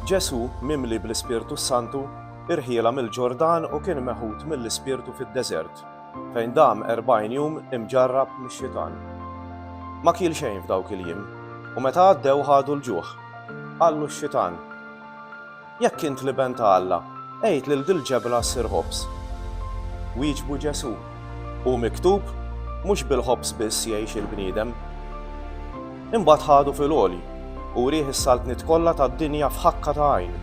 Ġesù, mimli bl-Ispirtu s-Santu, irħiela mill-Ġordan u kien meħud mill-Ispirtu fid-deżert, fejn dam erbgħin jum imġarrab mix-Xitan. Ma kiel xejn f'dawk il-jiem, u meta għaddew ħadu l-ġuħ. Qallu x-Xitan. Jekk int l-Iben ta' Alla, għid lil dil-ġebla ssir ħobż. Wieġbu Ġesù, Hu miktub, 'Mhux bil-ħobż biss jgħix il-bniedem. Imbagħad ħadu fil-għoli u wrieh is-saltniet kollha tad-dinja f'ħakka ta' għajn,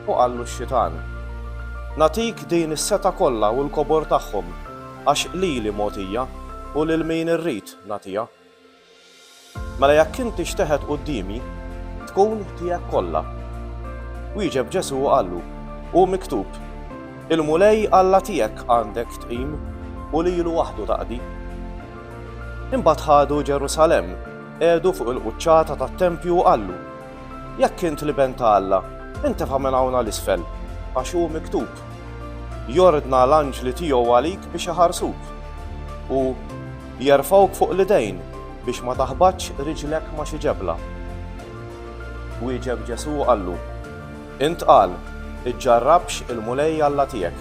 u qallu x-xitan, Nagħtik din is-setgħa kollha u l-kobor tagħhom, għax lili mogħtija, u lil min irrid nagħtiha. Mela jekk inti xteħet quddiemi, tkun tiegħek kollha. Wieġeb Ġesù u qallu, Hu miktub, Il-Mulej Alla tiegħek għandek tqim u lilu waħdu taqdi. Imbagħad ħadu Ġerusalemm, qiegħdu fuq il-quċċata tat-tempju u qallu, Jekk int l-Iben ta' Alla, intefa' minn hawn għal isfel, għax hu miktub, 'Jordna l-anġli tiegħu għalik biex iħarsuk, u jerfgħuk fuq l-idejn biex ma taħbatx riġlek ma' xi ġebla. Wieġeb Ġesù u qallu, Int qal, 'Iġġarrabx il-Mulej Alla tiegħek.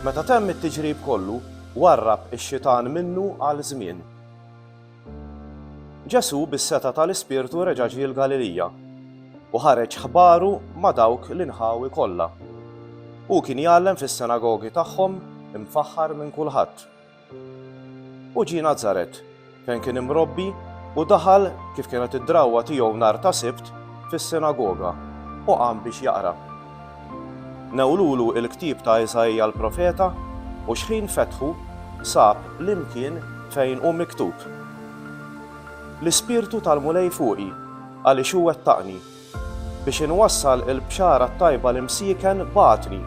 Meta temm it-tiġrib kollu, warrab ix-xitan minnu għal żmien. Ġesù bis-setgħa tal-Ispirtu reġa' ġie l-Galilija u ħareġ ħbaru ma' dawk l-inħawi kollha. Hu kien jgħallem fis-sinagogi tagħhom imfaħħar minn kulħadd. U ġie Nazaret, fejn kien imrobbi, u daħal, kif kienet id-drawwa tiegħu nhar ta' Sibt, fis-sinagoga, u qam biex jaqra. Newlulu l-ktieb ta' Iżaija l-profeta u xħin fetħu sab l-imkien fejn hu miktub, L-Ispirtu tal-Mulej fuqi, għaliex hu wettaqni, biex inwassal il-bxara t-tajba l-imsieken bagħatni,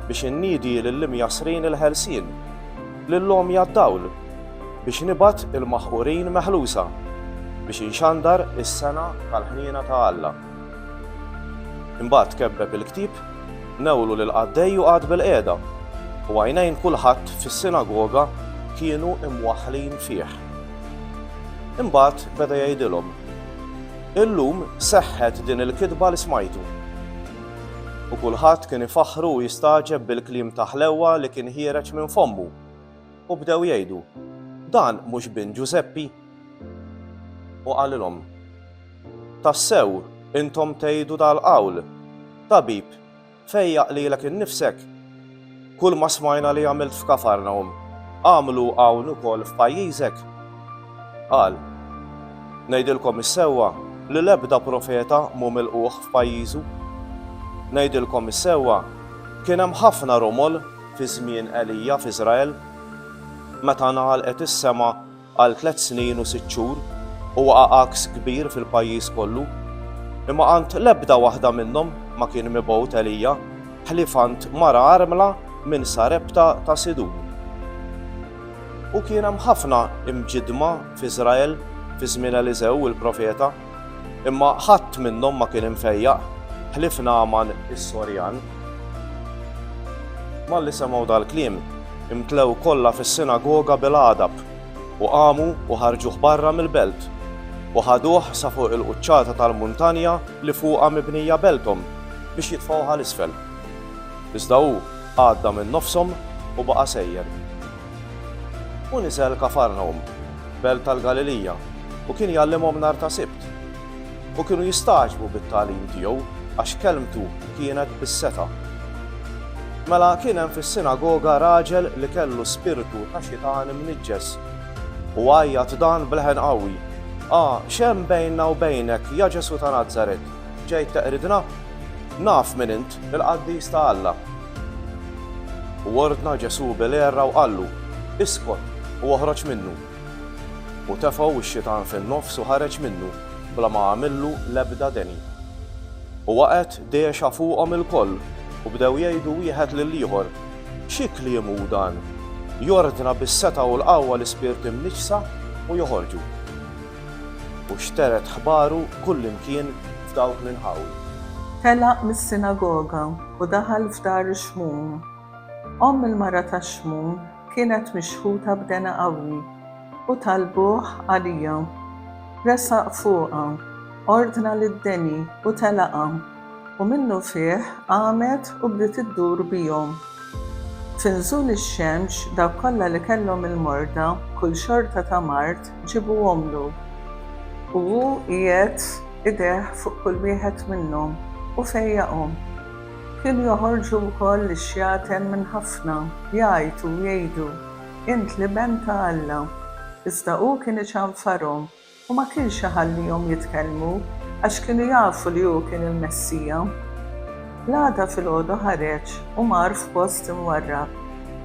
biex inniedi lill-imjassrin il-ħelsien, lill-għomja d-dawl, biex nibgħat il-maħqurin meħlusa, biex inxandar is-sena tal-ħniena ta' Alla. Imbagħad kebbeb il-ktieb, newwlu lill-qaddej u qagħad bilqiegħda, u għajnejn kulħadd fis-sinagoga kienu mwaħħlin fih. Imbagħad beda jgħidilhom, Illum seħħet din il-kitba li smajtu. U kulħadd kien ifaħħru u jistagħġeb bil-kliem ta' ħlewwa li kien ħiereġ minn fommu, u bdew jgħidu, Dan mhux bin Ġużeppi? U qalilhom, Tassew, intom tgħidu dal-qawl, Tabib, fejjaq lilek innifsek! Kulma smajna li għamilt f'Kafarnahum, agħmlu hawn ukoll f'pajjiżek! Qal, Ngħidilkom is-sewwa li l-ebda profeta mhu milqugħ f'pajjiżu. Ngħidilkom is-sewwa, kien hemm ħafna romol fi żmien Elija f'Iżrael. Meta ngħalqet is-sema Għal tliet snin u sitt xhur u waqa' għaks kbir fil-pajjiż kollu, imma għand l-ebda waħda minnhom ma kien mibgħut Elija, ħlief għand mara armla minn Sarepta ta' Sidun. U kien hemm ħafna imġiddma f'Iżrael fi żmien Eliżew il-profeta. Imma ħadd minnhom ma kien imfejjaq, ħlief Nagħman is-Sorjan. Malli semgħu dal-kliem, imtlew kollha fis-sinagoga bil-għadab, u qamu u ħarġuh barra mill-belt, u ħaduh sa fuq il-quċċata tal-muntanja li fuqha mibnija belthom biex jitfgħuh għal isfel. Iżda hu għadda minn nofshom u baqa' sejjer. U niżel Kafarnawm. belt tal-Galilija, u kien jgħallimhom nhar ta' Sibt. U kienu jistagħġbu bit-tagħlim tiegħu għax kelmtu kienet bis-setgħa. Mela kien hemm fis-sinagoga raġel li kellu spirtu ta' xitan imniġġes u għajjat dan b'leħen qawwi, A, x'hemm bejnna u bejnek, ja Ġesù ta' Nazaret? Ġejt teqridna? Naf min int, il-qaddis ta' Alla. U ordna Ġesù bil-għerra u qallu, Iskot u oħroġ minnu. U tefgħu x-xitan fin-nofs u ħareġ minnu bla ma għamillu l-ebda deni. U waqgħet dehxa fuqhom ilkoll u bdew jgħidu wieħed lill-ieħor, Xi kliem hu dan? Jordna bis-setgħa u l-qawwa l-ispirti mniġġsa u joħorġu. U xteret ħbaru kullimkien f'dawk l-inħawi. Telaq mis-sinagoga u daħal f'dar ix-Xmun. Omm il-mara tax-Xmun kienet mixħuta b'dena qawwi, u talbuh għalija. Resaq fuqha, ordna lid-deni u telaqha. U minnufih qamet u bdiet iddur bihom. F'inżul ix-xemx, dawk kollha li kellhom il-morda b'kull xorta ta' mard ġibuhomlu, u hu jgħedd idejh fuq kull wieħed minnhom u fejjaqhom. Kienu joħorġu wkoll lix-xjaten minn ħafna, jgħajtu u jgħidu, Int l-Iben ta' Alla. Iżda hu kien iċanfarhom u ma kienx iħallihom jitkellmu għax kienu jafu li hu kien il-Messija. L-għada filgħodu ħareġ u mar f'post imwarrab,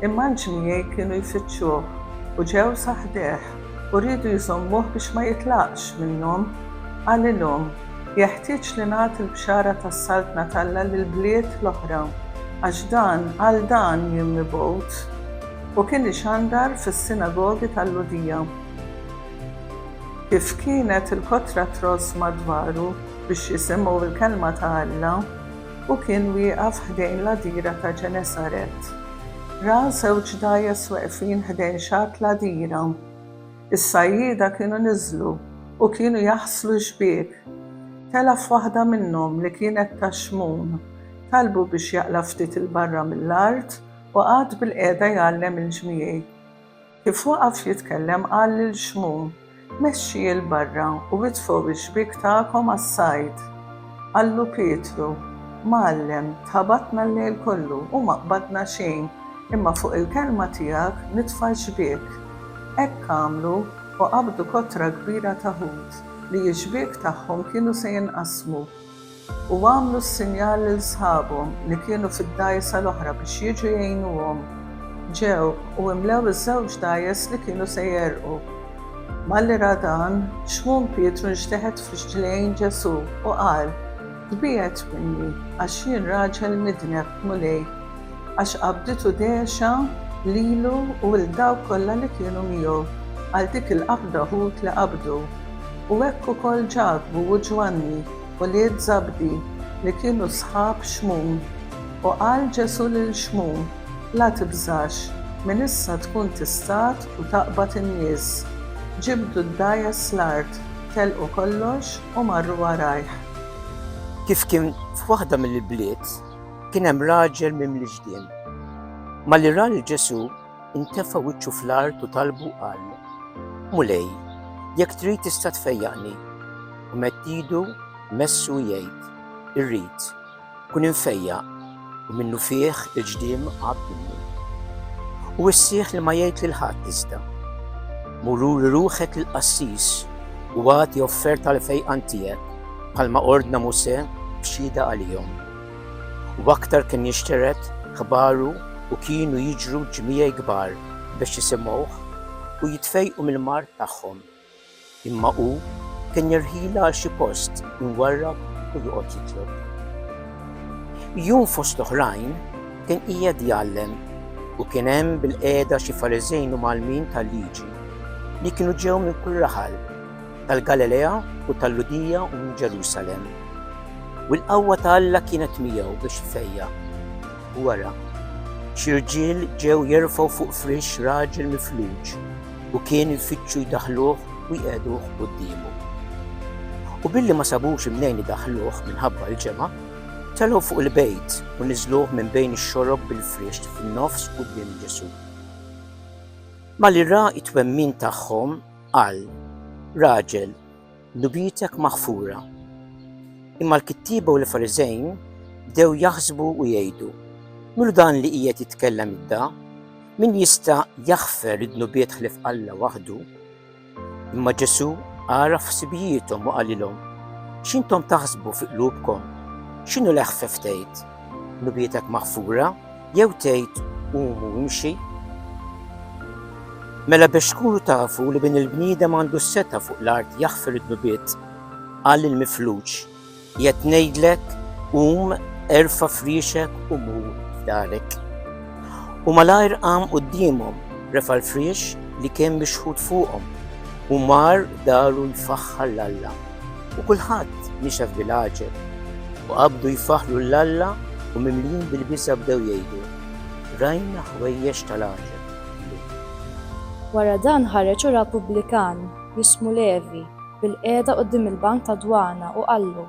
imma l-ġmiegħi kienu jfittxuh u ġew sa ħdejh u riedu jżommuh biex ma jitlaqx minnhom. Qalilhom, Jeħtieġ li nagħti l-bxara tas-Saltna t'Alla lill-bliet l-oħra, għax dan għal dan jien mibgħut. U kien ixandar fis-sinagogi tal-Lhudija. Kif kienet il-kotra tross madwaru biex jisimgħu l-kelma ta' Alla, hu kien wieqaf ħdejn l-għadira ta' Ġenesaret. Ra żewġ dgħajjes weqfin ħdejn xatt l-għadira. Is-sajjieda kienu niżlu u kienu jaħslu x-xbiek. Tela' f'waħda minnhom li kienet ta' xmun. Talbu biex jaqla' ftit 'il barra mill-art u qagħad bilqiegħda jgħallem il-ġmiej. Kif waqaf jitkellem qal lil Xmun, Mexxi 'l barra u itfgħu x-xbiek tagħkom għas-sajd. Qallu Pietru, Mgħallem, tħabatna l-lejl kollu u ma qbadna xejn, imma fuq il-kelma tiegħek nitfa' x-xbiek. Hekk għamlu u qabdu kotra kbira ta' ħut, li x-xbiek tagħhom kienu se jinqasmu. u għamlu s-sinjal lil sħabhom li kienu fid-dgħajsa l-oħra biex jiġu jgħinuhom. Ġew u imlew iż-żewġ dgħajjes li kienu se jegħrqu. Malli ra dan, Xmun Pietru nxteħet f'rġlejn Ġesù u qal, Tbiegħed minni, għax jien raġel midneb, Mulej. għax qabditu dehxa lilu u 'l dawk kollha li kienu miegħu għal dik il-qabda ħut li qabdu. U hekk ukoll Ġakbu u Ġwanni, ulied Żabdi, li kienu sħab Xmun. U qal Ġesù lil Xmun, La tibżax, minn issa tkun tistat u taqbad in-nies. Ġibdu d-dgħajjes l-art, telqu kollox u marru warajh. Kif kien f'waħda mill-ibliet. Kien hemm raġel mimli ġdien. Malli ra lil Ġesù, intefa' wiċċu fl-art u talbu qal, Mulej, jekk trid tista' tfejjaqni. U mett idu messu jgħid, Irrid, kun infejjaq, u minnu fih il-ġdiem għab minni. U issieħ li ma jgħid lil ħadd iżda. Mururi ruħek il-qassis u għati offerta l-fejqan tiegħek bħalma ordna Muse b'xhieda għalihom. U aktar kien jinxtered ħbaru u kienu jiġru ġmiegħi kbar biex jisimgħuh u jitfejqu mill-mard tagħhom. Imma hu kien jirħila għal xi post imwarrab u joqgħod jitlob. Jum fost l-oħrajn kien qiegħed jgħallem u kien hemm bil-qiegħda xi Fariżejn u Malmin tal-liġi li kienu ġew minn kull raħal tal-Galilea u tal-Lhudija u minn Ġerusalemm. U l-qawwa ta' Alla kienet miegħu biex ifejja. U wara, xi rġiel ġew jerfgħu fuq frix raġel mifluġ u kien ifittxu jdaħluh u jqegħduh quddiemu. U billi ma sabux imnejn idaħluh minħabba l-ġemgħa, telgħu fuq il-bejt u niżluh minn bejn ix-xorob bil-frix fin-nofs quddiem Ġesù. Malli ra t-twemmin tagħhom, Qal raġel, Dubjitek maħfura. Imma l-kittieba u l-Fariżejn bdew jaħsbu u jgħidu, Milu dan li qiegħed jitkellem idda? Min jista' jaħfer id-dnubiet ħlief Alla waħdu? Imma Ġesù għaraf ħsibijiethom u qalilhom, X'intom taħsbu fi qlubkom? X'inhu l-eħfef tgħid? nubietek maħfura, jew tgħid qumu imxi. Mela biex tkunu tafu li bin il-bniedem għandu s-seta fuq l-art jaħfir id-nubiet, qal il-mifluġ, jett ngħidlek qum erfa friexek u mu f'darek. U malajr qam qudiemhom refa l-friex li kien mixħut fuqhom u mar daru jfaħħar l-Alla. u kulħadd mixa f'bil-għaġeb, u qabdu jfaħħlu 'l Alla u mimlijin bil-biża' bdew jgħidu, Rajna ħwejjeġ tal-għaġeb llum. Wara dan ħareġ u ra pubblikan, jismu Levi, bilqiegħda quddiem il-bank tad-dwana u qallu,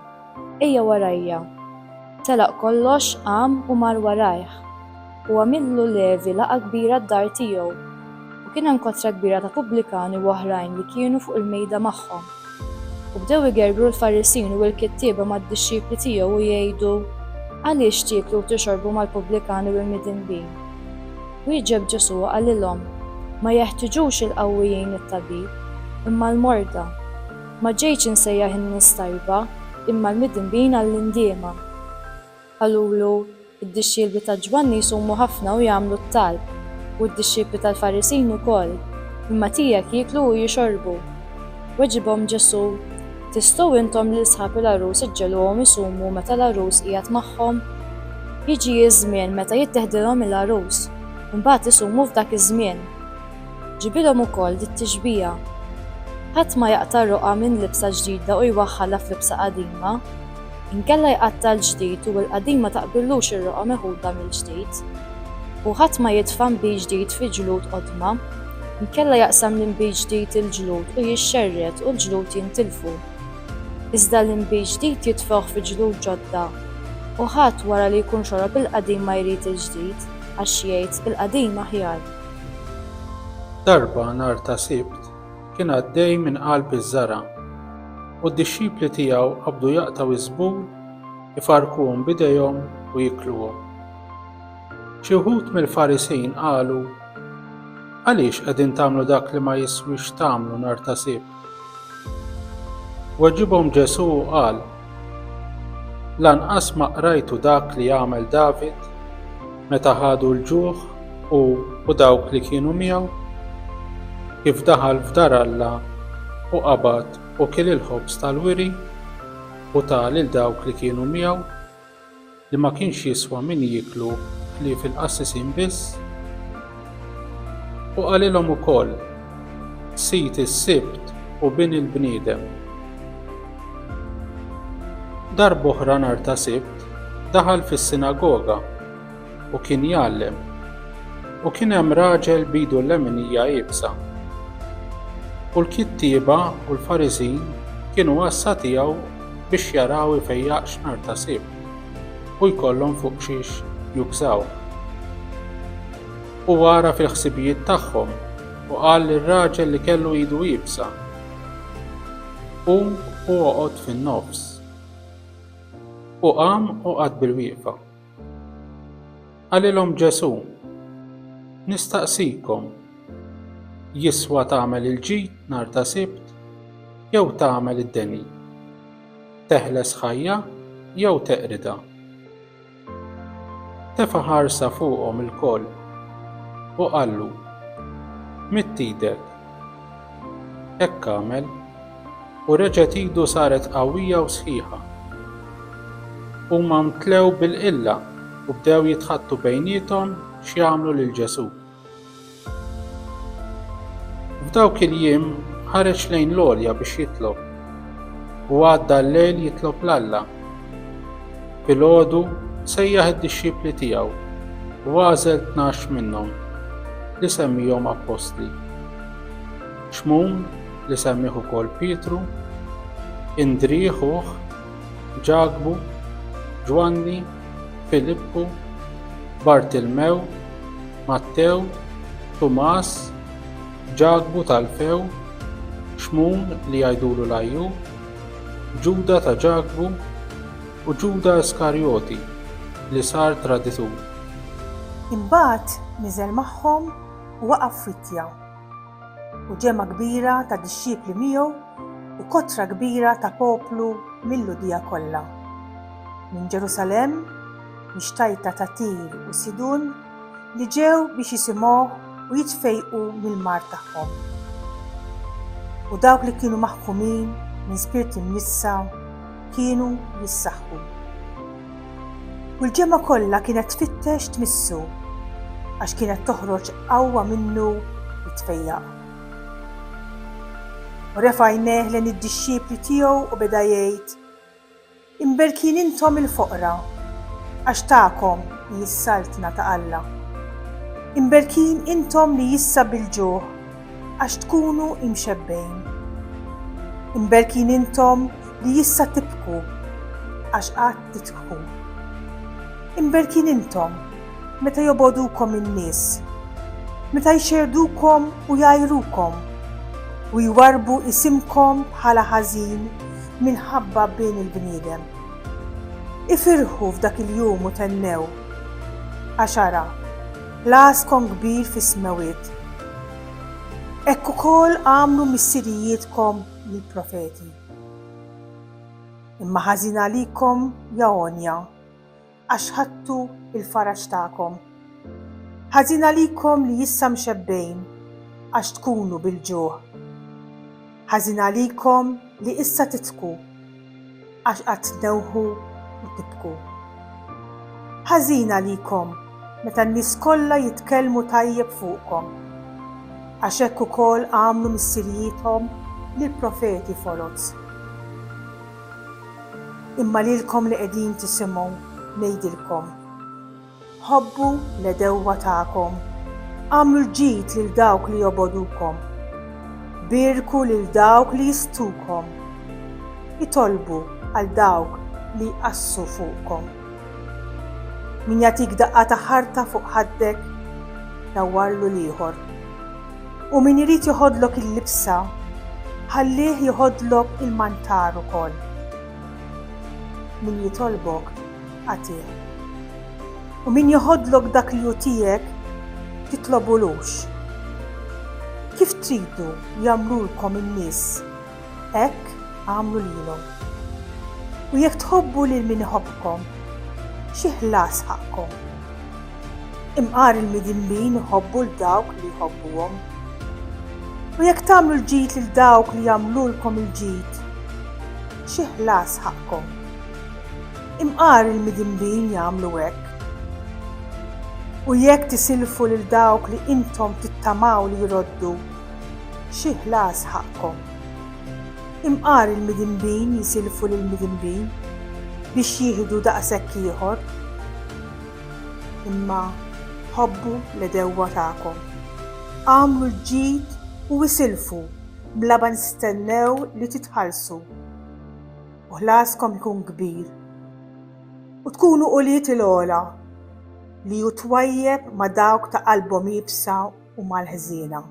Ejja warajja. Telaq kollox, qam u mar warajh. u għamillu Levi laqgħa kbira d-dar tiegħu, u kien hemm kotra kbira ta' pubblikani u oħrajn li kienu fuq il-mejda magħhom. U bdew igergru l-Farisin u l-kittieba mad-dixxipli tiegħu u jgħidu, Għaliex tieklu u tixorbu mal-pubblikani u l-midinbin? Wieġeb Ġesù u qalilhom, Ma jeħtiġux il-qawwijin it-tabib, imma l-morda. Ma ġejtx insejjaħ in-nies tajba, imma l-midinbin għall-indiema. Qalulu, Id-dixxielbi ta' Ġwanni jsumu ħafna u jagħmlu t-talb, u d-dixxiepli tal-Farisin ukoll, imma tiegħek jieklu u jixorbu. Weġibhom Ġesù, Tistgħu intom lil sħab il-għarus iġġegħluhom isumu meta l-għarus qiegħed magħhom? Jiġi ż-żmien meta jitteħdilhom il-għarus, u mbagħad isumu f'dak iż-żmien. Ġibilhom ukoll dit-tixbiha, Ħadd ma jaqta' roqgħa minn libsa ġdida u jwaħħalha f'libsa qadima. Inkella jqatta' l-ġdid u l-qadim ma taqbillux ir-roqgħa meħuda mill-ġdid. U ħadd ma jitfa' nbid ġdid fi ġlud qodma. Inkella jaqsam l-inbid ġdid il-ġlud u jixxerred u l-ġlud jintilfu. Iżda l-inbid ġdid jitfgħuh fi ġlud ġodda. U ħadd wara li jkun xorob il-qadim ma jrid il-ġdid, għax jgħid, 'Il-qadim aħjar. Darba nhar ta' Sibt, kien għaddej minn qalb iż-żara', u d-dixxipli tiegħu qabdu jaqtgħu iż-żbul, ifarrkuhom b'idejhom u jikluhom. Xi wħud mill-Farisin qalu, Għaliex qegħdin tagħmlu dak li ma jiswix tagħmlu nhar ta' Sibt? Weġibhom Ġesù u qal, Lanqas ma qrajtu dak li għamel David? Meta ħadu l-ġuħ hu u dawk li kienu miegħu, kif daħal f'dar Alla u qabad u kiel il-ħobż tal-wiri u ta lil dawk li kienu miegħu, li ma kienx jiswa min jieklu ħlief il-qassisin biss? U qalilhom ukoll, Sid is-Sibt hu Bin il-bniedem. Darb'oħra nhar ta' Sibt, daħal fis-sinagoga u kien jgħallem, u kien hemm raġel b'idu l-leminija iebsa. U l-kittieba u l-Fariżin kienu għassa tiegħu biex jaraw ifejjaqx nhar ta' sib u jkollhom fuq xiex jukżaw. U għara fil-ħsibijiet tagħhom u qal lir-raġel li kellu idu iebsa, Qum u oqgħod fin-nofs. U qam u qagħad bilwieqfa. Qalilhom Ġesù, Nistaqsikom, jiswa tagħmel il-ġid nhar ta' Sibt jew tagħmel id-deni? Teħles ħajja jew teqridha? Tefa' ħarsa fuqhom ilkoll u qallu, Midd idek. Hekk għamel, u reġgħet idu saret qawwija u sħiħa. Huma mtlew bil-qilla u bdew jitħaddtu bejniethom x'jagħmlu lil Ġesù. F'dawk il-jiem ħareġ lejn l-għolja biex jitlob u għadda l-lejl jitlob l-Alla. Filgħodu sejjaħ id-dixxipli tiegħu u għażel tnax minnhom li semmihom appostli. Xmun li semmih ukoll Pietru, Indri ħuh, Ġakbu, Ġwanni, Filippu, Bartilmew, Mattew, Tumas, Ġakbu t'Alfew, Xmun li jgħidulu l-Għajjur, Ġuda ta' Ġakbu u Ġuda Iskarjoti li sar traditur. Imbagħad niżel magħhom u waqaf f'wittja. u ġemgħa kbira ta' dixxipli miegħu u kotra kbira ta' poplu mil-Lhudija kollha, minn Ġerusalemm, mix-xtajta ta' Tir u Sidun, li ġew biex jisimgħuh u jitfejqu mill-mard tagħhom. U dawk li kienu maħkumin minn spirt imnissa kienu jissaħħu. U l-ġemgħa kollha kienet tfittex tmissu, għax kienet toħroġ qawwa minnu li tfejjaq. U refa' għajnejh lejn id-dixxipli tiegħu u beda jgħid, Imberkin intom il-foqra, għax tagħkom hi s-Saltna ta' Alla. Imberkin intom li issa bil-ġuħ, għax tkunu imxebbgħin. Imberkin intom li issa tibku, għax għad titbku. Imberkin intom meta jobogħdukom in-nies, meta jxerrdukom u jgħajrukom, u jwarrbu isimkom bħala ħażin minħabba bin il-bniedem. Ifirħu f'dak il-jum u thennew, għax ara, L-Għaskom kbir fis-smewwiet. Hekk ukoll għamlu missirijietkom lill-profeti. Imma ħażin għalikom, ja għonja, għax ħadtu l-faraġ tagħkom. Ħażin għalikom li issa mxebbgħin għax tkunu bil-ġuħ. Ħażin għalikom li issa tidħku Għax qagħad tdewħu u tibku. Ħażin għalikom meta n-nies kollha jitkellmu tajjeb fuqkom, għax hekk ukoll għamlu missirijiethom lill-profeti foloz. Imma lilkom li qegħdin tisimgħu ngħidilkom, Ħobbu l-għedewwa tagħkom, agħmlu l-ġid lil dawk li jobogħdukom, bierku lil dawk li jisthukom, itolbu għal dawk li jqassu fuqkom. Min jagħtik daqqa ta' ħarta fuq ħaddek, dawwarlu l-ieħor. U min irid joħodlok il-libsa, ħallih joħodlok il-mantar ukoll. Min jitolbok, Agħtih. U min joħodlok dak li hu tiegħek, titlobulux. Kif tridu jagħmlulkom in-nies, hekk agħmlu lilhom. U jekk tħobbu lil min iħobbkom, xi ħlas ħaqqkom? Imqar il-midinbin iħobbu l dawk li jħobbuhom. U jekk tagħmlu l-ġid lil dawk li jagħmlulkom il-ġid, xi ħlas ħaqqkom? Imqar il-midinbin jagħmlu hekk. U jekk tisilfu lil dawk li intom tittamaw li jroddu, xi ħlas ħaqqkom? Imqar il-midinbin jisilfu lill-midinbin biex jieħdu daqshekk ieħor. Imma ħobbu l-għedewwa tagħkom. Agħmlu l-ġid u isilfu bla ma tistennew li titħallsu. u ħlaskom ikun kbir, u tkunu ulied il-għola li hu twajjeb ma' dawk ta' qalbhom iebsa u mal-ħżiena.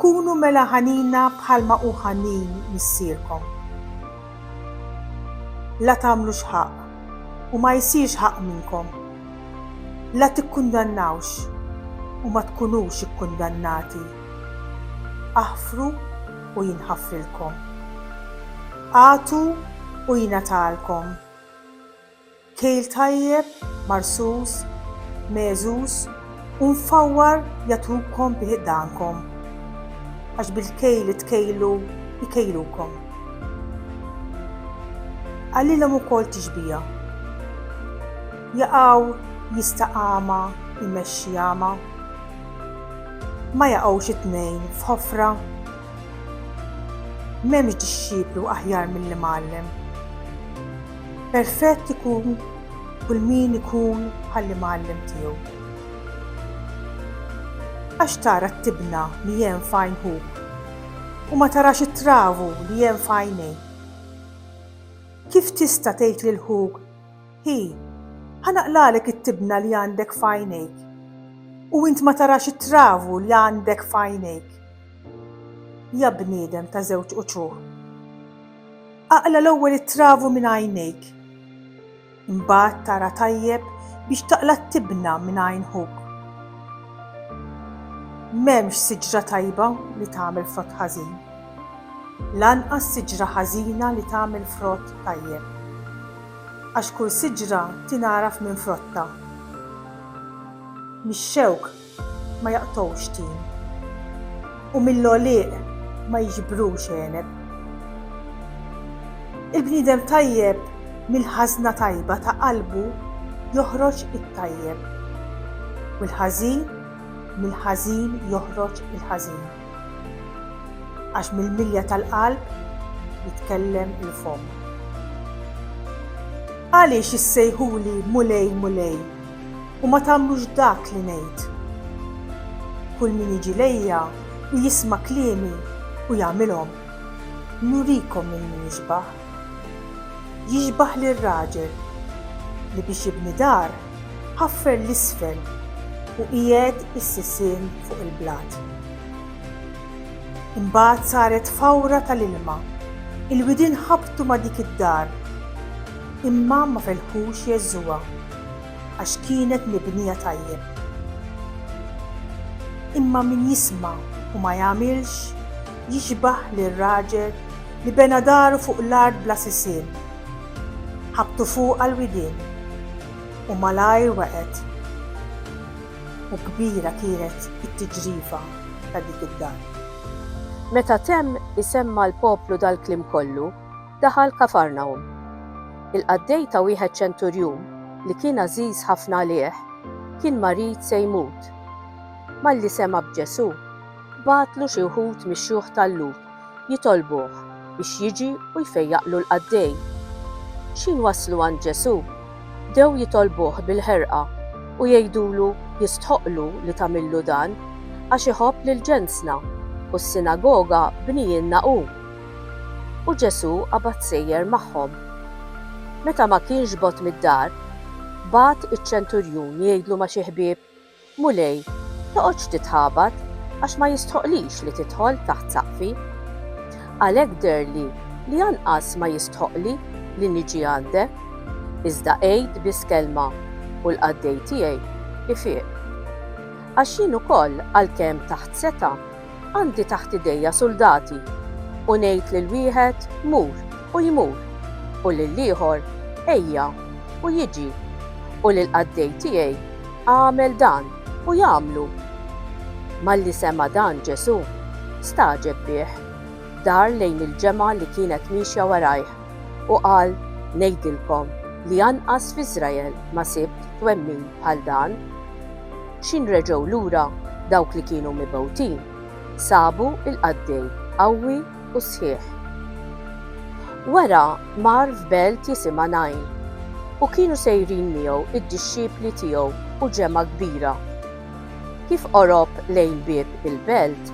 Kunu mela ħanina bħalma hu ħanin Missierkom. La tagħmlux ħaqq, u ma jsirx ħaqq minnkom. La tikkundannawx, u ma tkunux ikkundannati. Aħfru, u jinħafrilkom. Agħtu u jingħatalkom. Kejl tajjeb, marsus, megħżuż u mfawwar jagħtukom bi ħdankom, għax bil-kejl li tkejlu jkejlukom. Qalilhom ukoll tixbiha. Jaqaw jista' għama jmexxi għama. Ma jaqgħux it-tnejn f'ħofra? M'hemmx dixxiplu aħjar mill-imgħallem. Perfett ikun kull min ikun bħall-imgħallem tiegħu. Għax tara t-tibna li hemm f'għajn ħuk u ma tarax it-travu li hemm f'għajnejk? Kif tista' tgħid lil ħuk Hi, ħa naqlalek it-tibna li għandek f'għajnejk, u int ma tarax it-travu li għandek f'għajnejk? Ja bniedem ta' żewġ uċuħ! Aqla' l-ewwel it-travu minn għajnejk, imbagħad tara tajjeb biex taqla' t-tibna minn għajn ħuk. M'hemmx siġra tajba li tagħmel frott ħażin, lanqas siġra ħażina li tagħmel frott tajjeb. Għax kull siġra tingħaraf minn frottha. Mix-xewk ma jaqtgħux tin. U mill-għolieq ma jiġbrux għeneb. Il-bniedem tajjeb mill-ħażna tajba ta' qalbu joħroġ it-tajjeb, u l-ħażin mill-ħażin joħroġ il-ħażin. Għax mill-milja tal-qalb jitkellem il-fomm. Għaliex issejħuli Mulej, Mulej, u ma tagħmlux dak li ngħid? Kull min jiġi lejja u jisma' kliemi u jagħmilhom, nurikom min hu jixbah. Jixbah lir-raġel li biex jibni dar ħaffer 'l isfel u qiegħed is-sisien fuq il-blat. Imbagħad saret fawra tal-ilma, il-widien ħabtu ma' dik id-dar imma ma felħux jeżżuha għax kienet mibnija tajjeb. Imma min jisma' u ma jagħmilx jixbah lir-raġel Li bena daru fuq l-art bla sisien. Ħabbtu fuqha l-widien. U malajr wegħet. U kbira kienet it-tiġrifa ta' dik id-dar. Meta temm isemma' l-poplu dal-kliem kollu, daħal Kafarnahum. Il-qaddej ta' wieħed ċenturjun li kien għażiż ħafna għalih, kien marid se jmut. Malli sema' b'Ġesù, bagħatlu xi wħud mix-xjuħ tal-Lhud. jitolbuh biex jiġi u jfejjaqlu l-qaddej. X'ħin waslu għand Ġesù, bdew jitolbuh bil-ħerqa u jgħidulu jistħoqqlu li tagħmillu dan, għax iħobb lil ġensna, u s-sinagoga bnijienna hu. U Ġesù qabad sejjer magħhom. Meta ma kienx bogħod mid-dar, bagħat iċ-ċenturjun jgħidlu ma' xi ħbieb Mulej, toqgħodx titħabat għax ma jistħoqlix li tidħol taħt saqfi. Għalhekk dherli li anqas ma jistħoqli li niġi għandek, iżda għid biss kelma u l-qaddej tiegħi ifieq. Għax jien ukoll għalkemm taħt setgħa, Għandi taħt idejja suldati, u ngħid lil wieħed, 'Mur, u jmur, u lill-ieħor, 'Ejja, u jiġi, u lill-qaddej tiegħi, 'Agħmel dan, u jagħmlu. Malli sema' dan Ġesù, stagħġeb bih, dar lejn il-ġemgħa li kienet miexja warajh, u qal, Ngħidilkom li anqas f'Iżrael ma sibt twemmin bħal dan. x'in reġgħu lura dawk li kienu mibgħutin, sabu l-qaddej qawwi u sħiħ. Wara mar f'belt jisimha Nain, u kienu sejrin miegħu d-dixxipli tiegħu u ġemgħa kbira. Kif qorob lejn bieb il-belt,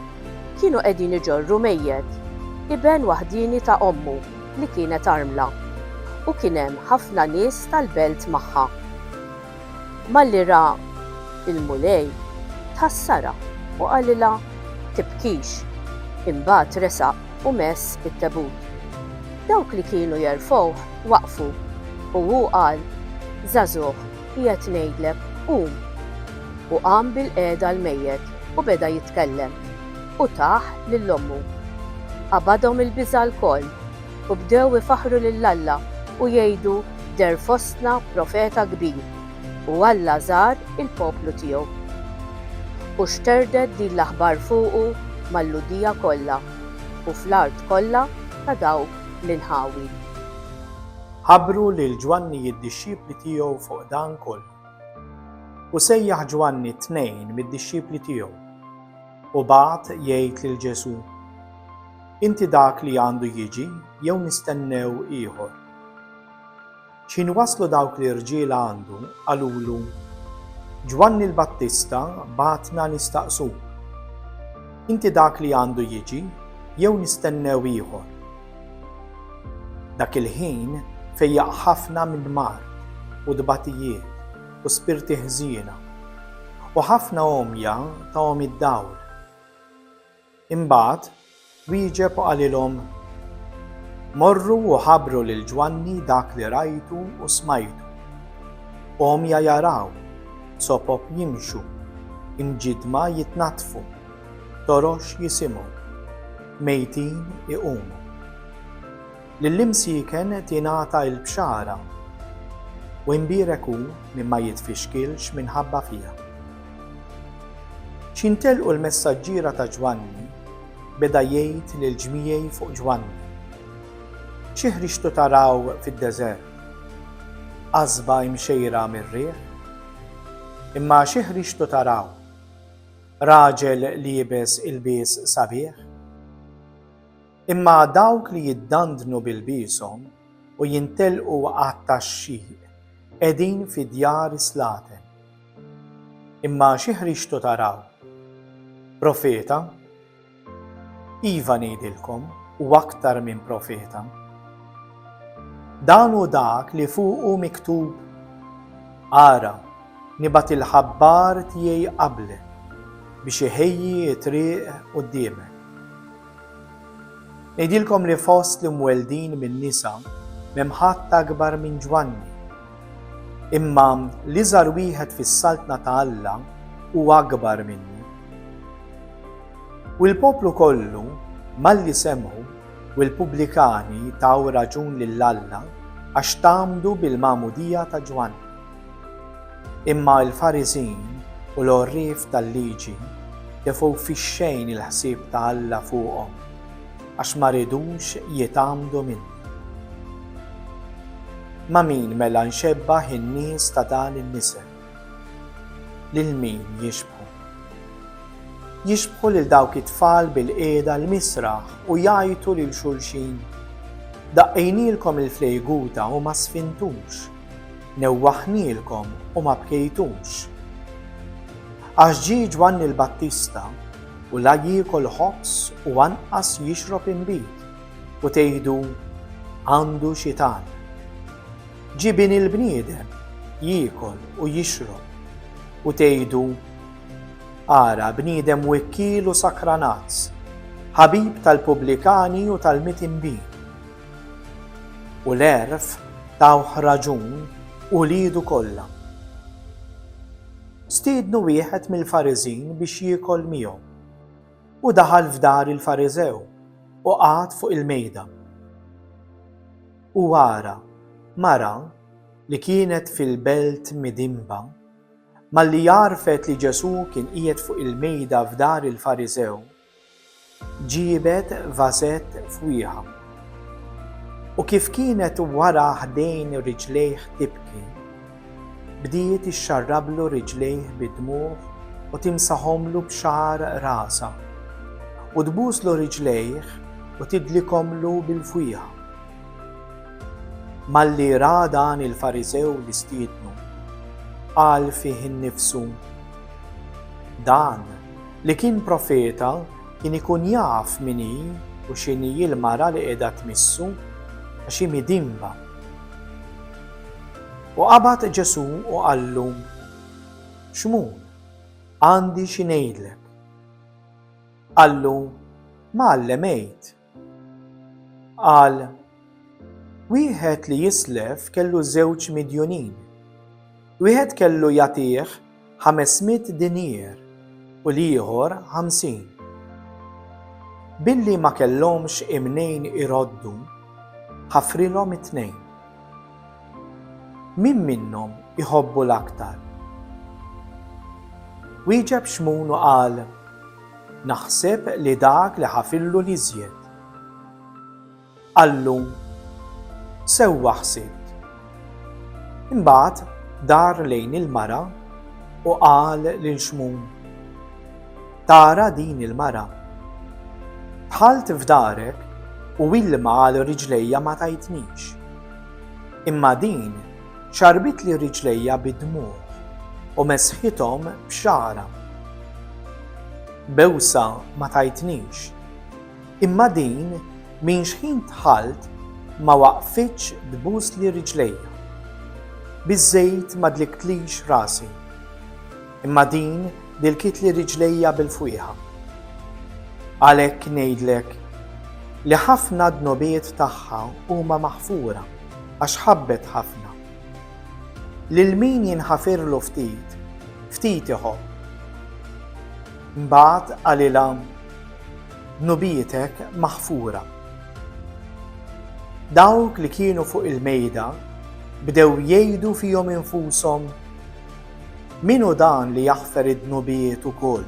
kienu qegħdin iġorru mejjet, iben waħdieni ta' ommu li kienet armla, u kien hemm ħafna nies tal-belt magħha. Malli ra l-Mulej, tħassarha u qalilha, Tibkix. Imbagħad resaq u mess it-tebut. Dawk li kienu jerfgħuh waqfu, u hu qal, Żagħżugħ, qiegħed ngħidlek, qum! U qam bilqiegħda l-mejjet u beda jitkellem, u tah lil ommu. Qabadhom il-biża' lkoll. u bdew ifaħħru lil Alla u jgħidu, Deher fostna profeta kbir, u Alla żar il-poplu tiegħu. U xterdet din l-aħbar fuqu mal-Lhudija kollha, u fl-art kollha ta' dawk l-inħawi. Ħabbru lil Ġwanni id-dixxipli tiegħu fuq dan kollu. U sejjaħ Ġwanni tnejn mid-dixxipli tiegħu. u bagħat jgħid lil Ġesù, Inti dak li għandu jiġi jew nistennew ieħor? X'ħin waslu dawk l-irġiel għandu, qalulu, Ġwanni l-Battista bagħatna nistaqsuk, Inti dak li għandu jiġi jew nistennew ieħor? Dak il-ħin fejjaq ħafna minn mart u tbatijiet u spirti ħżiena, u ħafna għomja tahom id-dawl. Imbagħad wieġeb u qalilhom, Morru u ħabbru lil Ġwanni dak li rajtu u smajtu, Għomja jaraw, sopop jimxu, imġiddma jitnaddfu, torox jisimgħu, mejtin iqumu. Lill-imsieken tingħata l-bxara, u imbierek hu min ma jitfixkilx minħabba fiha. X'jintelqu l-messaġġiera ta' Ġwanni, beda jgħid lill-ġmiegħi fuq Ġwanni, Xi ħriġtu taraw fid-deżert? Qasba imxejra mir-riħ? Imma xi ħriġtu taraw? Raġel liebes ilbies sabiħ? Imma dawk li jiddandnu b'ilbieshom u jintellqu għat-taxxiq qegħdin fi djar is-slaten. Imma xi ħriġtu taraw? Profeta? Iva ngħidilkom, hu aktar minn profeta. Dan hu dak li fuqu miktub, Ara, nibgħat il-ħabbar tiegħi qablek biex iħejji t-triq quddiemek. Ngħidilkom li fost l-imweldin minn nisa m'hemm ħadd akbar minn Ġwanni. Imma l-iżgħar wieħed fis-Saltna ta' Alla hu akbar minnu. U l-poplu kollu malli semgħu u l-pubblikani taw raġun lil Alla għax tgħammdu bil-magħmudija ta' Ġwanni. Imma l-Fariżin u l-għorrief tal-Liġi tefu fix-xejn il-ħsieb ta' Alla fuqhom, għax ma ridux jitgħammdu minnu. Ma' min mela nxebbah in-nies ta' dan in-nisel? Lil min jixbħu? Jixbħu lil dawk it-tfal bil-qiegħda l-misraħ u jgħajtu lil xulxin, Daqqejnielkom il-flejguta u ma sfintux! Newwaħnielkom u ma bkejtux. Għax ġie Ġwanni l-Battista, u la jiekol ħobż u anqas jixrob inbid, u tgħidu, 'Għandu xitan. Ġie Bini l-bniedem, jiekol u jixrob, u tgħidu, 'Ara, bniedem wikkiel u sakranazz, ħabib tal-pubblikani u tal-mitnbin, U l-għerf tawh raġun uliedu kollha. Stiednu wieħed mill-Fariżin biex jiekol miegħu. U daħal f'dar il-Fariżew u qagħad fuq il-mejda. U ara, mara li kienet fil-belt midinba, malli għarfet li Ġesù kien qiegħed fuq il-mejda f'dar il-Fariżew, Ġiebet vażett fwieħa. U kif kienet wara ħdejn riġlejh tibki, bdiet ixxarrablu riġlejh bid-dmugħ u timsahomlu b'xagħar rasha, u tbuslu riġlejh u tidlikhomlu bil-fwieħa. Malli ra dan il-Fariżew li stiednu, qal fih innifsu, Dan Li kien profeta kien ikun jaf min hi u x'inhi l-mara li qiegħda tmissu, għax hi midinba. U qabad Ġesù u qallu, Xmun, għandi xi ngħidlek. Qallu, Mgħallem għid. Qal, Wieħed li jislef kellu żewġ midjunin. Wieħed kellu jagħtih ħames mitt dinier u l-ieħor ħamsin. Billi ma kellhomx imnejn iroddu, ħafrilhom it-tnejn. Min minnhom iħobbu l-aktar? Wieġeb Xmun u qal, Naħseb li dak li ħafillu l-iżjed. Qallu, Sewwa ħsibt. Imbagħad dar lejn il-mara u qal lil Xmun, Tara din il-mara. Dħalt f'darek u ilma għal riġlejja ma tajtnix. Imma din xarbitli riġlejja bid-dmugħ u mesħithom b'xagħra. Bewsa ma tajtnix. Imma din minn xħin dħalt ma waqfitx tbusli riġlejja. Biż-żejt ma dliktlix rasi. Imma din bilkitli riġlejja bil-fwieħa. Għalhekk ngħidlek li ħafna dnubiet tagħha huma maħfura għax ħabbet ħafna. Lil min jinħafirlu ftit, ftit iħobb. Mbagħad qalilha dnubietek maħfura. Dawk li kienu fuq il-mejda bdew jgħidu fihom infushom, Min hu dan li jaħfer id-dnubijiet ukoll?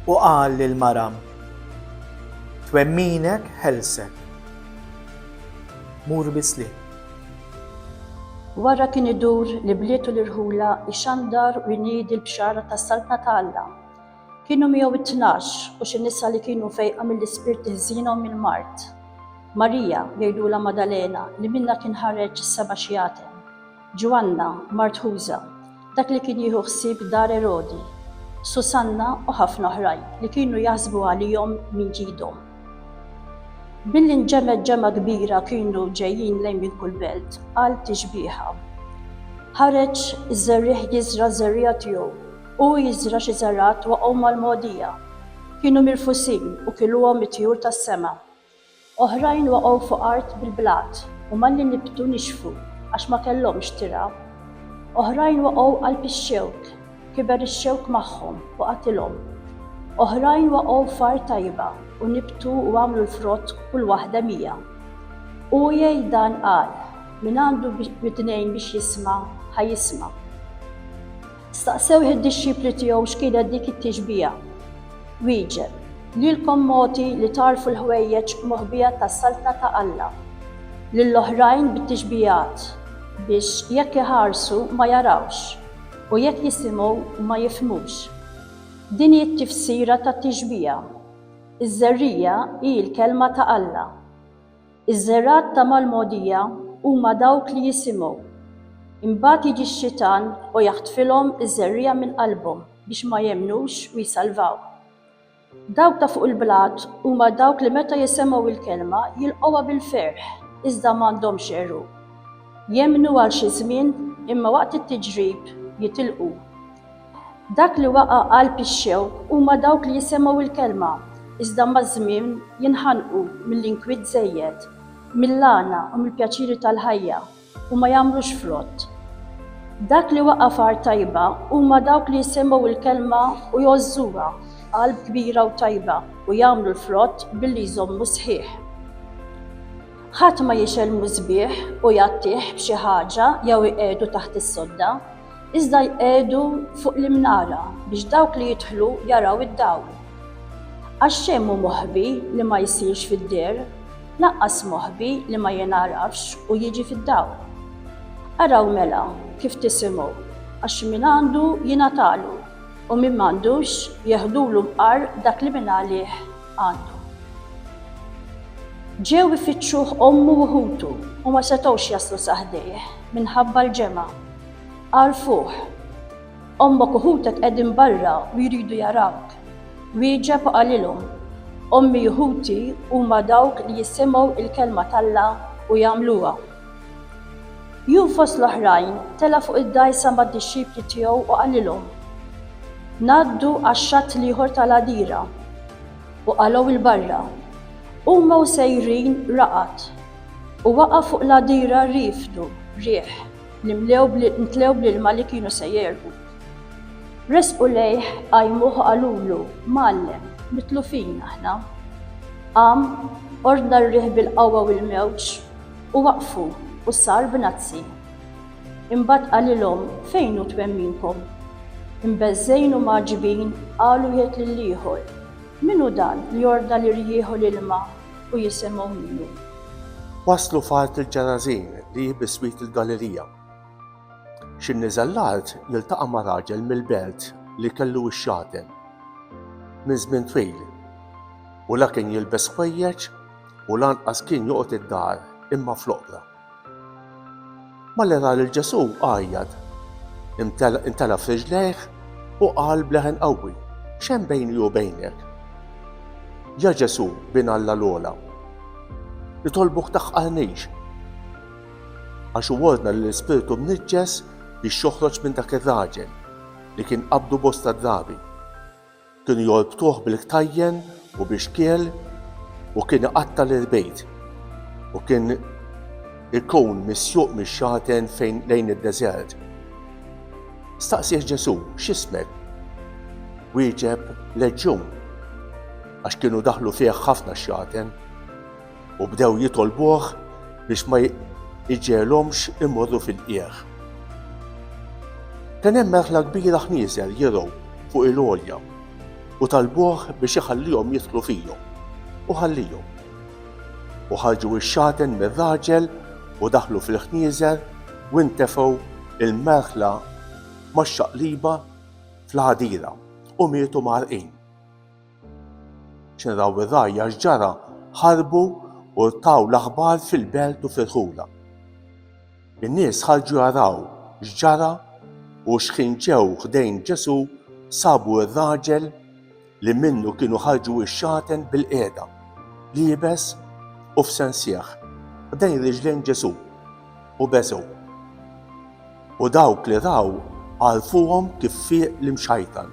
U qal lill-mara, Twemminek ħelsek. Mur bis-sliem. Wara kien idur l-ibliet u l-irħula jxandar u jniedi l-bxara tas-Saltna ta' Alla. Kienu miegħu t-tnax u xi nisa li kienu fejqa mill-ispirti ħżiena u mill-mard. Marija, jgħidulha Madalena, li minnha kien ħareġ is-seba' xjaten. Ġwanna, mart Ħuża, dak li kien jieħu ħsieb dar Erodi, Susanna u ħafna oħrajn li kienu jaħsbu għalihom minn ġidhom. Billi nġemgħet ġemgħa kbira kienu ġejjin lejn minn kull belt, qal tixbieha. Ħareġ iż-żerriegħ jiżra' ż-żerriegħa tiegħu, u jiżra' xi żergħat waqgħu mal-mogħdija. Kienu mirfusin u kiluhom it-tjur tas-sema. Oħrajn waqgħu fuq art bil-blat u malli nibtu nixfu għax ma kellhomx tirgħa. Oħrajn waqgħu qalb ix-xewk, kiber ix-xewk magħhom u qatilhom. Oħrajn waqgħu f'art tajba u nibtu u għamlu l-frott kull waħda mija. Hu jgħid dan qal, Min għandu widnejn biex jisma', ħa jisma'. Staqsewh id-dixxipli tiegħu x'kienet dik it-tixbiha. Wieġeb, Lilkom mogħti li tagħrfu l-ħwejjeġ moħbija tas-Saltna ta' Alla, lill-oħrajn bit-tixbihat, biex jekk iħarsu ma jarawx, u jekk jisimgħu ma jifhmux. Din hi t-tifsira tat-tixbiha. Iż-żerriegħa hi l-Kelma ta' Alla. Iż-żergħat ta' mal-mogħdija huma dawk li jisimgħu. Imbagħad jiġi x-xitan u jaħtfilhom iż-żerriegħa minn qalbhom biex ma jemmnux u jsalvaw. Dawk ta' fuq il-blat huma dawk li meta jisemgħu l-kelma jilqgħuha bil-ferħ iżda m'għandhomx għeruq. Jemmnu għal xi żmien imma waqt it-tiġrib jitilqu. Dak li waqa' qalb ix-xewk huma dawk li jisemgħu l-kelma, iżda maż-żmien jinħanqu mill-inkwiet żejjed, mill-għana u mill-pjaċiri tal-ħajja, u ma jagħmlux frott. Dak li waqa' f'art tajba huma dawk li jisemgħu l-kelma u jgħożżuha, qalb kbira u tajba, u jagħmlu l-frott billi jżommu sħiħ. Ħadd ma jixgħel musbieħ u jgħattih b'xi ħaġa jew iqiegħdu taħt is-sodda, Iżda jqiegħdu fuq l-imnara biex dawk li jidħlu jaraw id-dawl. Għax xejn mhu moħbi li ma jsirx fid-deher, lanqas moħbi li ma jingħarafx u jiġi fid-dawl. Araw mela kif tisimgħu, għax min għandu jingħatalu, u min m'għandux jeħdulu mqar dak li mingħalih għandu. Ġew ifittxuh ommu u ħutu u ma setgħux jaslu sa ħdejh minħabba l-ġemgħa. Għarfuh. Ommok u ħutek qegħdin barra u jridu jarawk. Wieġeb u qalilhom, Ommi u ħuti huma dawk li jisimgħu l-kelma t'Alla u jagħmluha. Jum fost l-oħrajn tela' fuq id-dgħajsa mad-dixxipli tiegħu u qalilhom, Ngħaddu għax-xatt l-ieħor tal-għadira. U qalgħu 'l barra. Huma u sejrin raqad, u waqa' fuq l-għadira rifdu, riħ. li mtlew bl-ilma li kienu se jegħrqu. Resqu lejh, qajmuh u qalulu, Mgħallem, mitlufin aħna. Qam, ordna r-riħ bil-qawwa u l-mewġ, u waqfu, u sar b'nazzi. Imbagħad qalilhom, Fejn hu twemminkom? Imbeżżgħin u mgħaġġbin, qalu wieħed lill-ieħor, Min hu dan li ordna lir-riħ u l-ilma u jissemmgħu minnu. Waslu f'art il-Ġerażin li hi biswit il-Galilija. Xi niżel l-art jiltaqa' ma' raġel mill-belt li kellu x-xaten minn żmien twil u la kien jilbes ħwejjeġ u lanqas kien joqgħod id-dar imma fl-oqbra. Malli ra lil Ġesù għajjat, intela' f'riġlejh u qal b'leħen qawwi, X'hemm bejni u bejnek? Ja Ġesù, Bin Alla l-Ogħla, nitolbuk taħqarnix! Għax hu ordna lill-ispirtu mniġġes biex joħroġ minn dak ir-raġel, li kien qabdu bosta drabi. Kienu jorbtuh bil-ktajjen u bi xkiel u kien iqatta' l-irbejt u kien ikun misjuq mix-xaten fejn lejn id-deżert. Staqsieh Ġesù, X'ismek? Wieġeb, Leġġun, għax kienu daħlu fih ħafna xjaten. u bdew jitolbuh biex ma iġegħelhomx imorru fil-qiegħ. Kien hemm merħla kbira ħnieżer jirgħu fuq il-għolja u talbuh biex iħallihom jidħlu fihom u ħallihom. U ħarġu x-xaten mir-raġel u daħlu fil-ħnieżer u ntefgħu il-merħla max-xaqliba fl-ħadira u mietu mgħarrqin. Xerraw ir-rgħajja x'ġara, ħarbu u rtaw l-aħbar fil-belt u ferħulha. In-nies ħarġu jaraw x'ġara u xħin ġew ħdejn Ġesù sabu r-raġel li minnu kienu ħarġu x-xagħten bilqiegħda, liebes u f'sensieħ, ħdejn riġlejn Ġesù. u beżgħu. U dawk li raw għarfuhom kif fieq l-imxajtan,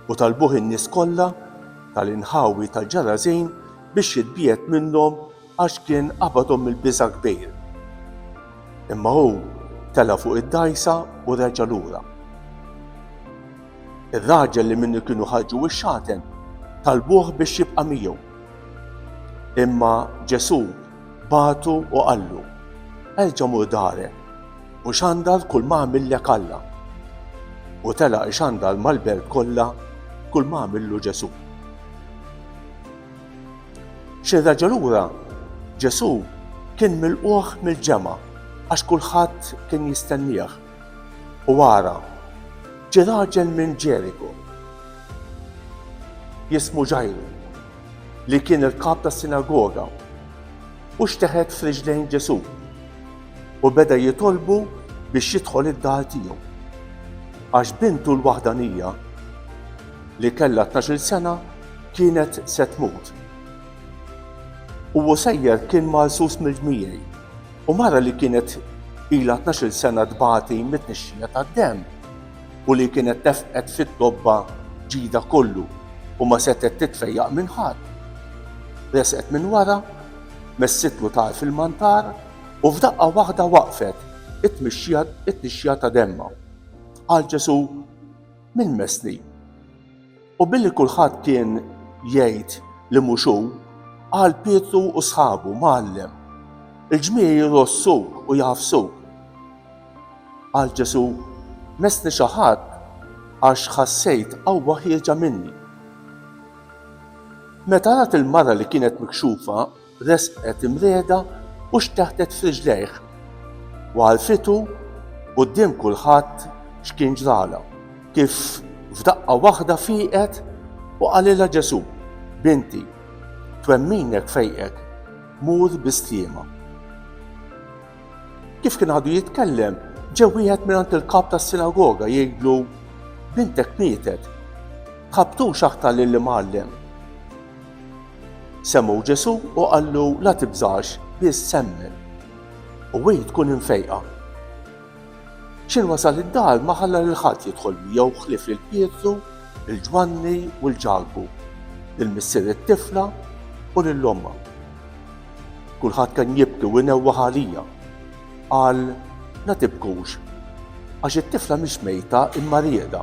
u talbuh in-nies kollha tal-inħawi tal-Ġerażin biex jitbiegħed minnhom għax kien qabadhom mill-biża' kbir. Imma hu tela' fuq id-dgħajsa u reġa' lura. Ir-raġel li minnu kienu ħarġu x-xaten talbuh biex jibqa' miegħu. Imma Ġesù Bagħtu u qallu, Erġa' mur darek u xandar kull ma għamillek Alla. U telaq ixandar mal-belt kollha kull ma għamillu Ġesù. Xi raġel lura, Ġesù kien milquh mill-ġemgħa għax kulħadd kien jistennieh. U ara, ġie raġel minn Ġeriku. Jismu Ġajru. li kien il-kap tas-sinagoga, u xteħet f'riġlejn Ġesù u beda jitolbu biex jidħol id-dar tiegħu. Għax bintu l-waħdanija li kellha tnax-il sena kienet se tmut. U sejjer kien marsus mill-ġmiegħi u mara li kienet ilha tnax-il sena tbati mit-tnixxija tad-demm u li kienet tefqet fit-tobba ġidha kollu u ma setgħet titfejjaq minn ħadd. Resqet minn wara, messitlu tagħar fil-mantar u f'daqqa waħda waqfet it-tmixxija ta' demmha. Qal Ġesù, Min messni? U billi kulħadd kien jgħid li mhux hu, qal Pietru u sħabu, Mgħallem, il-ġmiegħi jrossuk u jagħfsuk. Qal Ġesù, Messni xi ħadd għax ħassejt qawwa ħierġa minni. Meta rat il-mara li kienet mikxufa, Resqet imriegħda u xteħtet f'riġlejh u għarrfitu quddiem kulħadd x'kien ġralha, kif f'daqqa waħda fieqet u qalilha Ġesù, Binti, twemminek fejqek, mur bi sliema. Kif kien għadu jitkellem, ġew wieħed mingħand il-kap tas-sinagoga jgħidlu, Bintek mietet, tħabbtux aktar lill-imgħallem. Semmgħu Ġesù u qallu la tibżax, biss semmen. U hi tkun imfejqa. X'in wasal id-dar ma ħalla lil ħadd jidħol miegħu ħlief lil Pietru, lil Ġwanni u l Ġakbu, lil missier it-tifla u lil ommha. Kulħadd kien jibki u jnewwaħ għalija. Qal, la tibkux, għax it-tifla mhix mejta imma rieda.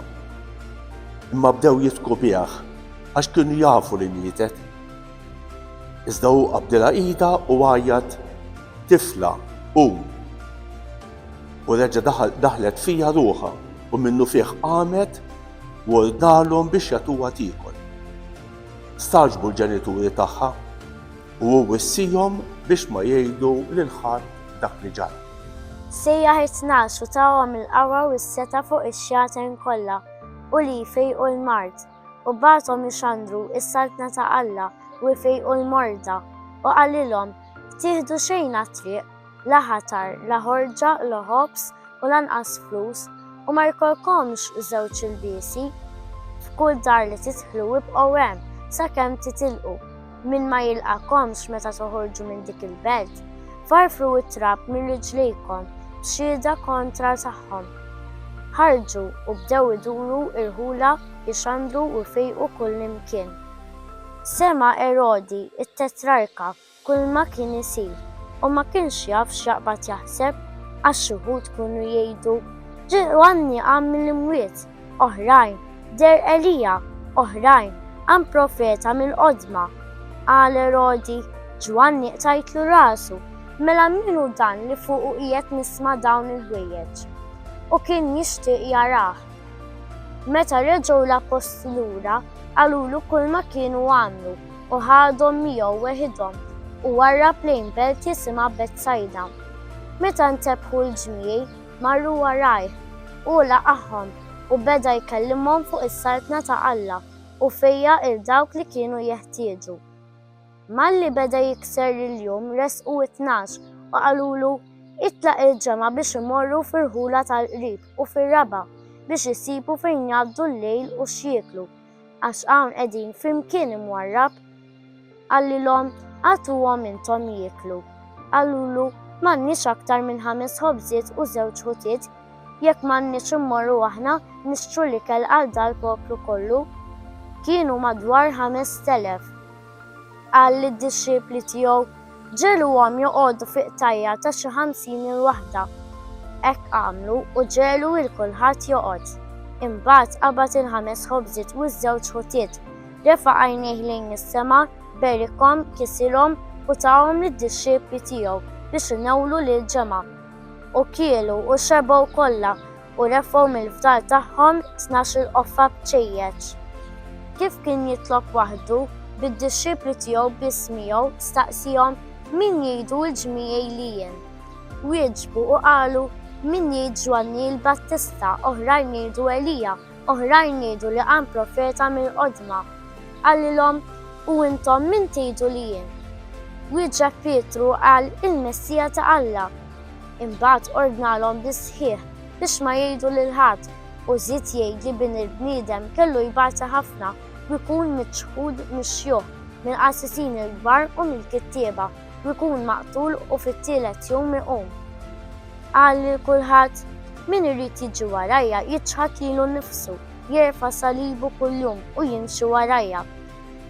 Imma bdew jitku bih. għax kienu jafu li mietet. Iżda hu qabdilha idha u għajjat, Tifla, qum! U reġa' daħlet fija ruħha u minnufih qamet u ordnalhom biex jagħtuha tiekol. Stagħġbu l-ġenituri tagħha u hu wissihom biex ma jgħidu lil ħadd dak li ġara. Sejjaħ it-tnax u tahom il-qawwa u s-setgħa fuq ix-xjaten kollha u li jfejqu l-mard. u bagħathom ixandru s-Saltna ta' Alla u jfejqu l-morda, u qalilhom, Tieħdu xejn għat-triq, la ħatar, la ħorġa, la ħobż, u lanqas flus, u ma jkollkomx żewġ ilbiesi. F'kull dar li tidħlu ibqgħu hemm sakemm titilqu. Min ma jilqagħkomx meta toħorġu minn dik il-belt, farfru t-trab minn riġlejkom b'xhieda kontra tagħhom. Ħarġu u bdew iduru irħula, ixandru u jfejqu kullimkien. Sema' Erodi t-tetrarka kulma kien isir u ma kienx jaf x'jaqbad jaħseb, għax xi wħud kienu jgħidu, Ġieli għanni qam mill-imwiet! oħrajn, deher Elija, oħrajn, qam profeta mill-qodma. Qal Erodi, Ġwanni qtajtlu rasu, mela min hu dan li fuqu qiegħed nisma' dawn il-ħwejjeġ? U kien jixtieq jarah. Meta reġgħu l-appostli lura, qalulu kulma kienu għamlu u ħadhom miegħu weħidhom u warrab lejn belt jisimha Betsajda. Meta ntebħu l-ġmiel, Marru warajh. Hu laqagħhom u beda jkellimhom fuq is-Saltna ta' Alla u fejja 'l dawk li kienu jeħtieġu. Malli beda jikser il-jum resqu t-tnax u qalulu, Itlaq il-ġemgħa biex imorru fir-rħula tal-qrib u fir-raba' biex isibu fejn jgħaddu l-lejl u x'jieklu. Għax hawn qegħdin flimkien imwarrab. Qallilhom, Agħtuhom intom jieklu. Qalulu, M'għandniex aktar minn ħames ħobżiet u żewġ ħutiet, jekk m'għandniex immorru aħna nixtru l-ikel għal dal-poplu kollu? Kienu madwar ħamest elef. Qal lid-dixxipli tiegħu, Ġegħluhom joqogħdu fi qtajja' ta' xi ħamsin il-waħda. Hekk għamlu u ġegħlu lil kulħadd joqgħod. Imbagħad qabad il-ħames ħobżiet u ż-żewġ ħutiet, refa' għajnejh lejn is-sema, berikhom, kisilhom u tahom lid-dixxipli tiegħu biex inewwlu lill-ġemgħa. U kielu u xebgħu kollha u refgħu mill-fdal tagħhom tnax-il qoffa b'ċejjeċ. Kif kien jitlob waħdu, bid-dixxipli tiegħu biss miegħu staqsihom, Min jgħidu l-ġmiegħi li jien? Wieġbu u qalu, Min jgħid Ġwanni l-Battista, oħrajn jgħidu Elija, Oħrajn jgħidu li qam profeta mill-qodma. Qalilhom, U intom min tgħidu li jien? Wieġeb Pietru u qal, Il-Messija ta' Alla. Imbagħad ordnalhom bis-sħiħ biex ma jgħidu lil ħadd, u żied jgħid li Bin il-bniedem kellu jbati ħafna u jkun miċħud mix-xjuħ, mill-qassisin il-kbar u mill-kittieba. u jkun maqtul u fit-tielet jum iqum. Qal lil kulħadd, Min irid jiġi warajja jiċħad lilu nnifsu, jerfa' salibu kuljum u jimxi warajja.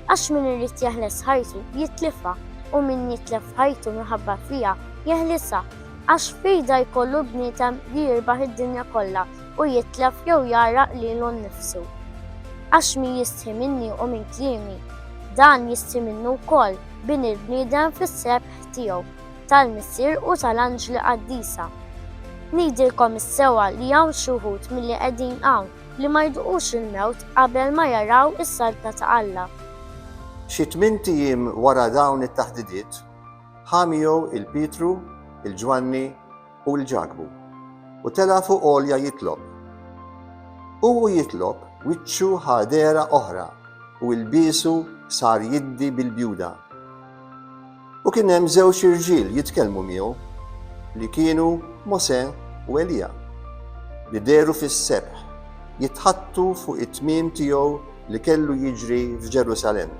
Għax min irid jeħles ħajtu jitlifha u min jitlef ħajtu minħabba fija jeħlisha. Għax x'fida jkollu bniedem li jirbaħ id-dinja kollha u jitlef jew jgħarraq lilu nnifsu? Għax min jistħi minni u minn kliemi, dan jistħi minnu wkoll, Bini l-bniedem fis-sebħ tiegħu, tal-Missier u tal-anġli qaddisa. Ngħidilkom is-sewwa li hawn xi wħud milli qegħdin hawn li ma jduqux il-mewt qabel ma jaraw is-saltna ta' Alla. Xi tmint ijiem wara dawn it-taħdidiet, ħa miegħu 'l Pietru, 'l Ġwanni, u l-ġakbu, u tela' fuq għolja jitlob. U hu jitlob, wiċċu ħa dehra oħra u ilbiesu sar jiddi bil-bjuda. U kien hemm żewġ irġiel jitkellmu miegħu, li kienu Mosè u Elija, li dehru fis-sebħ jitħaddtu fuq it-tmiem tiegħu li kellu jiġri f'Ġerusalemm.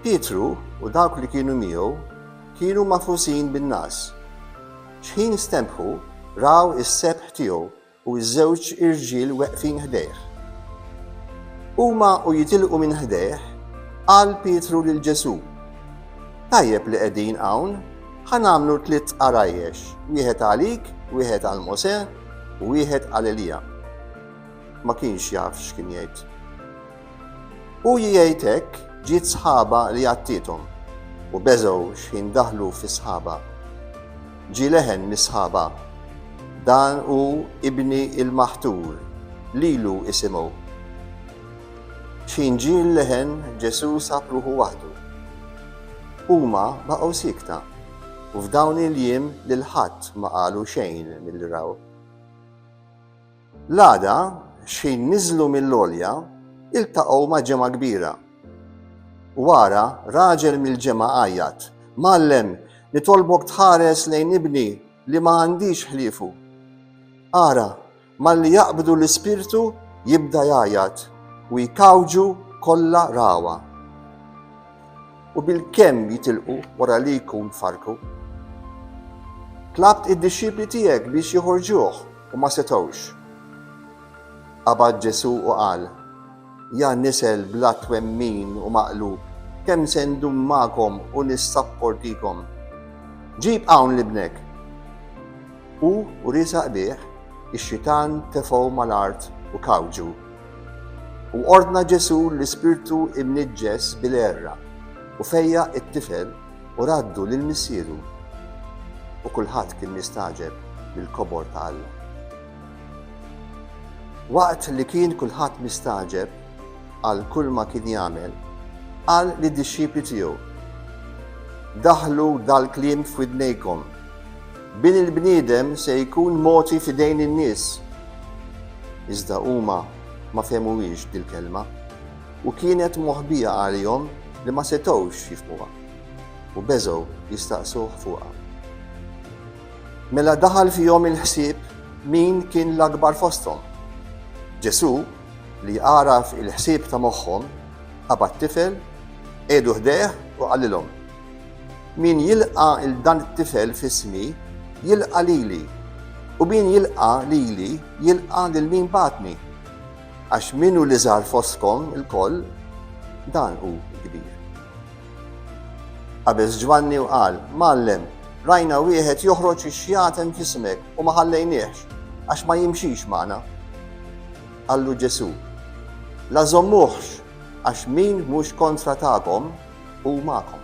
Pietru u dawk li kienu miegħu Kienu magħfusin bin-nagħas. Xħin stenbħu, raw is-sebħ tiegħu u ż-żewġ irġiel weqfin ħdejh. Huma u jitilqu minn ħdejh, qal Pietru lil Ġesù, Tajjeb li qegħdin hawn, ħa nagħmlu tliet għarajjex, wieħed għalik, wieħed għal Mosè u wieħed għal Elija. Ma kienx jaf x'kien jgħid. Hu jgħid hekk ġiet sħaba li għattiethom u beżgħu x'ħin daħlu fi sħaba. Ġie leħen mis-sħaba, Dan hu Ibni l-Maħtur, lilu isimgħu. X'ħin ġie l-leħen Ġesù sab ruħu waħdu. Huma baqgħu siekta u f'dawn il-jiem lil ħadd ma qalu xejn milli raw. L-għada, xħin niżlu mill-għolja, iltaqgħu ma' ġemgħa kbira. Wara, raġel mill-ġemgħa għajjat, Mgħallem, nitolbok tħares lejn ibni li ma għandix ħliefu. Ara, malli jaqbdu l-ispirtu jibda jgħajjat u jkawġu kollha rawa. U bil-kemm jitilqu wara li jkun farku. Tlabt id-dixxipli tiegħek biex joħorġuh U ma setgħux. Qabad Ġesù u qal, Ja nisel bla twemmin u maqlub, kemm se ndum magħkom u nissapportikom? Ġib hawn libnek! U wriesa qbih, ix-xitan tefgħu mal-art u kawġu. U ordna Ġesù l-ispirtu imniġġes bil-għerra, u fejjaq it-tifel, U raddu lil missieru, u kulħadd kien nistagħġeb mill-kobor ta' Alla. Waqt li kien kulħadd mistagħġeb għal kull ma kien jagħmel, qal li dixxipli tiegħu, Daħlu dal-kliem f'widnejkom, bin il-bniedem se jkun moti f'idejn in-nies. Iżda huma ma fehmuhiex dil-kelma. U kienet moħbija għalihom li ma setgħux jifhmuha, u beżgħu jistaqsuh fuqha. Mela daħal fihom il-ħsieb min kien l-akbar fosthom. Ġesù, li għaraf il-ħsieb ta' moħħhom, qabad tifel, qiegħdu ħdejh u qalilhom, Min jilqa' il dan it-tifel f'ismi, jilqa' lili, u min jilqa' lili, jilqa' lil min bagħatni. Għax min hu l-iżgħar fostkom ilkoll, dan hu l-kbir. Qabeż Ġwanni u qal, Mgħallem, rajna wieħed joħroġ ix-xjaten f'ismek u ma ħallejniehx, għax ma jimxix magħna. Qallu Ġesù, La żommuhx, għax min mhux kontra tagħkom hu magħkom.